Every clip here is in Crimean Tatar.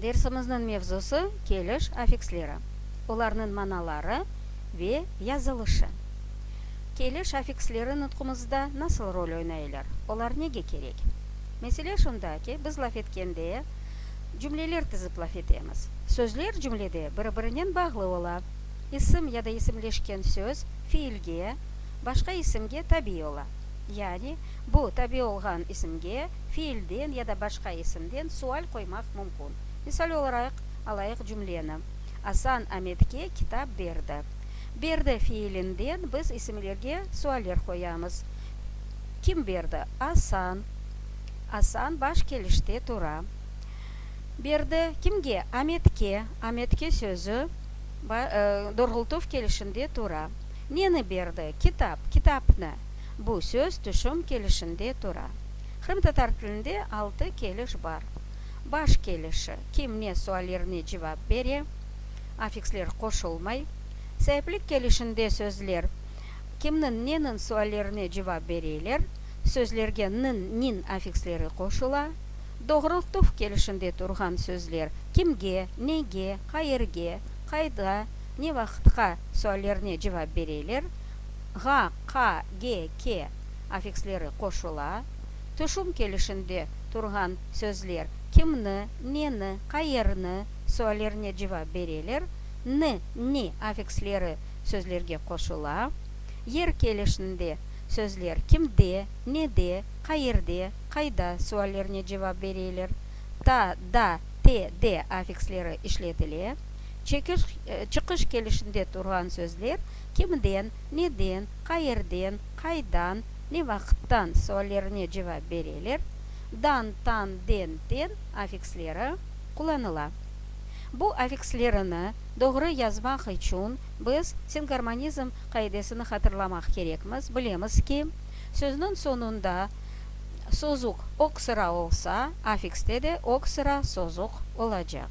Dersimizniñ mevzusı, keliş afiksleri, olarnıñ manaları ve yazılışı. Keliş afiksleri nutqumızda nasıl rol oynaylar, olar nege kerek? Mesele şunda ki, biz laf etkende, cümleler tizip laf etemiz. Sözler cümlede biri-birinen bağlı ola. İsim ya da isimleşken söz fiilge, başqa isimge tabiy ola. Yani, bu tabiy olğan isimge, fiilden ya da başqa isimden sual qoymaq mümkün. Misal olaraq, alayıq cümleni, Asan Ametke kitap berdi. Berdi fiilinden biz isimlerge sualler qoyamız, Kim berdi? Asan. Asan baş kelişte tura. Berdi kimge? Ametke. Ametke sözü doğrultuv kelişinde tura. Neni berdi? Kitap. Kitapnı. Bu söz tüşüm kelişinde tura. Qırımtatar tilinde altı keliş bar. Baş kelişi, kim ne suallerine cevap bere, afiksler qoşulmay. Saiplik kelişinde sözler, kimniñ, neniñ suallerine cevap bereyler, sözlerge niñ, niñ afiksleri qoşula. Doğrultuv kelişinde turğan sözler, kimge, nege, qayerge, qayda, ne vaqıtqa suallerine cevap bereyler, ğa, qa, ge, ke afiksleri qoşula, tüşüm kelişinde turğan sözler kimni, neni, qayerni suallerine cevap bereler, ni, ni afiksleri sözlerge qoşula, yer kelişinde sözler kimde, nede, qayerde, qayda suallerine cevap bereler, ta, da, te, de afiksleri işletile, çekiş, çıqış kelişinde turğan sözler kimden, neden, qayerden, qaydan, ne vaqıttan suallerine cevap bereler, dan, tan, den, ten afiksleri qullanıla. Bu afikslerini doğru yazmaq içün biz singarmonizm qaidesini hatırlamaq kerekmiz, bilemiz ki, sözniñ soñunda sozuq oq sıra olsa, afikste de oq sıra sozuq olacaq.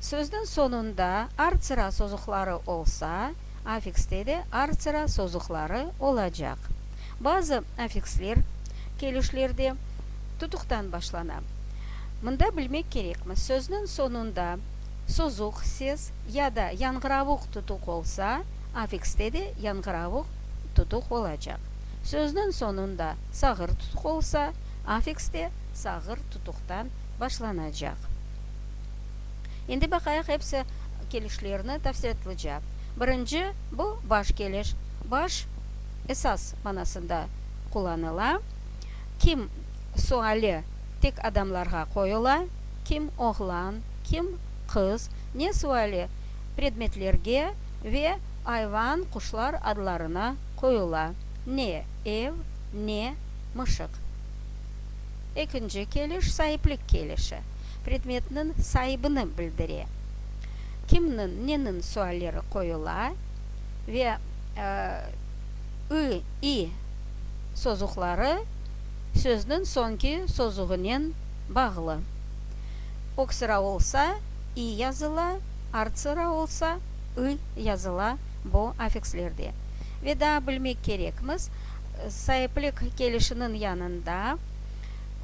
Sözniñ soñunda artsıra sozuqları olsa, affikste de artsıra sozuqları olacaq. Bazı affiksler kelişlerde tutuqtan başlana. Mında bilmek kerekmiz, sözniñ soñunda sozuq ses ya da yañğıravuq tutuq olsa, affikste de yañğıravuq tutuq olacaq. Sözniñ soñunda sağır tutuq olsa, affikste sağır tutuqtan başlanacaq. Endi baqayıq episi kelişlerni tafsilatlıca. Birinci, bu baş keliş. Baş, esas manasında qullanıla. Kim suali tek adamlarğa qoyula, kim oğlan, kim qız, ne suali predmetlerge ve ayvan, quşlar adlarına qoyula, ne ev, ne mışıq. Ekinci keliş, saiplik kelişi. predmetniñ saibini bildire, kimniñ, neniñ sualleri qoyula ve ı, i sozuqları sözniñ soñki sozuğınen bağlı. Öksıra olsa, i yazıla, artsıra olsa, ı yazıla bu affikslerde. Ve daa bilmek kerekmiz, saiplik kelişiniñ yanında,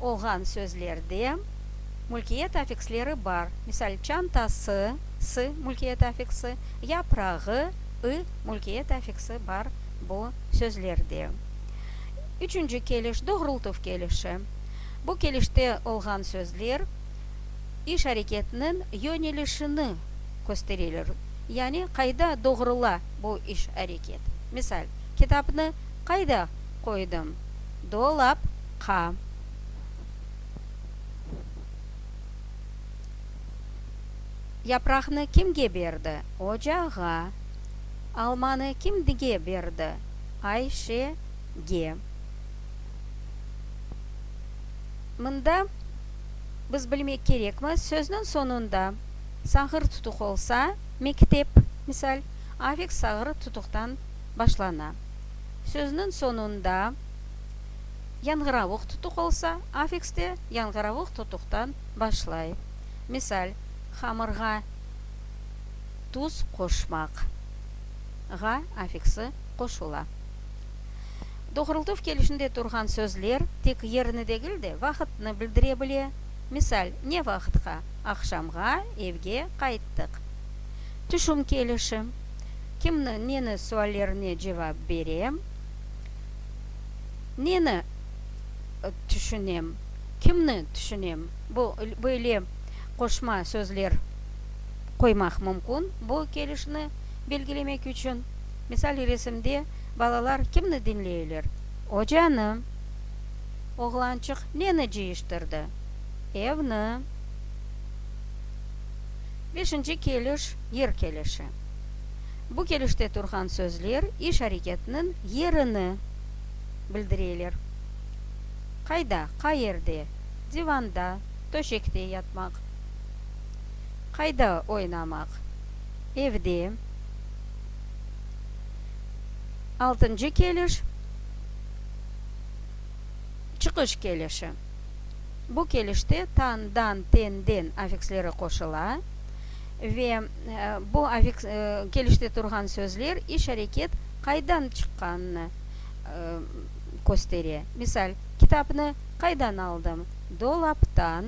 olğan sözlerde mülkiyet afiksleri bar, misal, çantası, sı, mülkiyet afiksi, yaprağı, ı, mülkiyet afiksi bar bu sözlerde. Üçünci keliş, doğrultuv kelişi. Bu kelişte olğan sözler iş areketiniñ yönelişini köstereler, yani qayda doğrula bu iş areket. Misal, kitapnı qayda qoydım? Dolap. Qa. Yapraqnı kimge berdi? Ocağa. Almanı kimge berdi? Ayşege. Mında biz bilmek kerekmi, sözniñ soñunda sağır tutuq olsa, mektep, misal, afiks sağır tutuqtan başlana. Sözniñ soñunda. Yanğıravuq tutuq olsa, afikste yanğıravuq tutuqtan başlay. Misal, hamırğa tuz qoşmaq, ğa afiksi qoşula. Doğrultuv kelişinde turğan sözler tek yerni degil de, vaqıtnı bildire bile. Misal, ne vaqıtqa? Aqşamğa evge qayttıq. Tüşüm kelişi, kimni, neni suallerine cevap berem. Neni tüşünem, kimni tüşünem? Bu, böyle qoşma sözler qoymaq mümkün bu kelişni belgilemek içün. Misal, resimde balalar kimni diñleyler? Ocanı. Oğlançıq neni cıyıştırdı? Evni. Beşinci keliş, yer kelişi. Bu kelişte turğan sözler iş-areketniñ yerini bildireler. Qayda, qayerde, divanda, töşekte yatmaq, qayda oynamaq, evde. Altıncı keliş, çıqış kelişi. Bu kelişte tan, dan, ten, den affiksleri qoşula. Ve bu avik kelişte turğan sözler, iş, areket qaydan çıqqanını köstere. Misal, Kitapnı qaydan aldım? Dolaptan.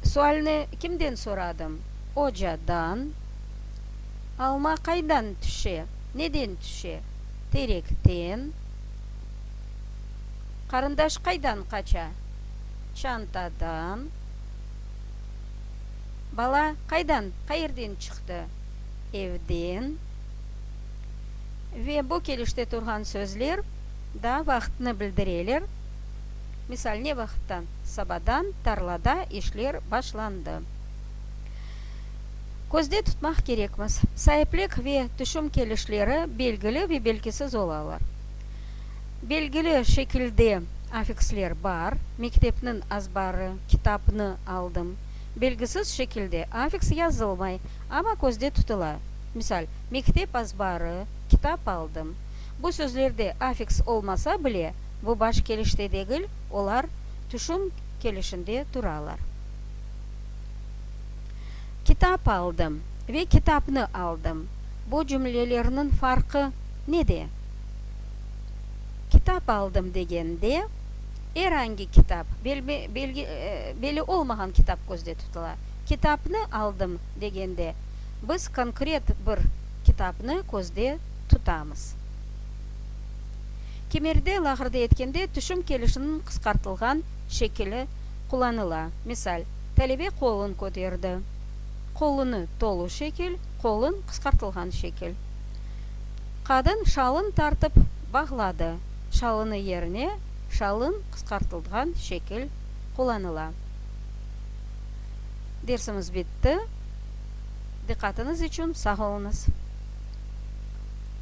Sualni kimden soradım? Ocadan. Alma qaydan tüşe? Neden tüşe? Terekten. Qarındaş qaydan qaça? Çantadan. Bala qaydan, qayerden çıqtı? Evden. Ve bu kelişte turğan sözler da vaqıtnı bildireler. Misal, ne vaqıttan? Sabadan tarlada işler başlandı. Közde tutmaq kerekmiz, saiplik ve tüşüm kelişleri belgili ve belgisiz olalar. Belgili şekilde afiksler bar, mektepniñ azbarı, kitapnı aldım. Belgisiz şekilde afiks yazılmay, amma közde tutula. Misal, mektep azbarı, kitap aldım. Bu sözlerde afiks olmasa bile, bu baş kelişte degil, olar tüşüm kelişinde turalar. Kitap aldım ve kitapnı aldım, bu cümlelerniñ farqı nede? Kitap aldım degende, er angi kitap, beli olmağan kitap közde tutula. Kitapnı aldım degende, biz konkret bir kitapnı közde tutamız. Kimerde, lağırda etkende, tüşüm kelişiniñ qısqartılğan şekili qullanıla. Misal, Talebe qolun köterdi. Qolunı, tolu şekil, qolun, qısqartılğan şekil. Qadın şalın tartıp bağladı. Şalını yerine şalın qısqartıltğan şekil qullanıla. Dersimiz bitti. Diqqatıñız içün sağ oluñız.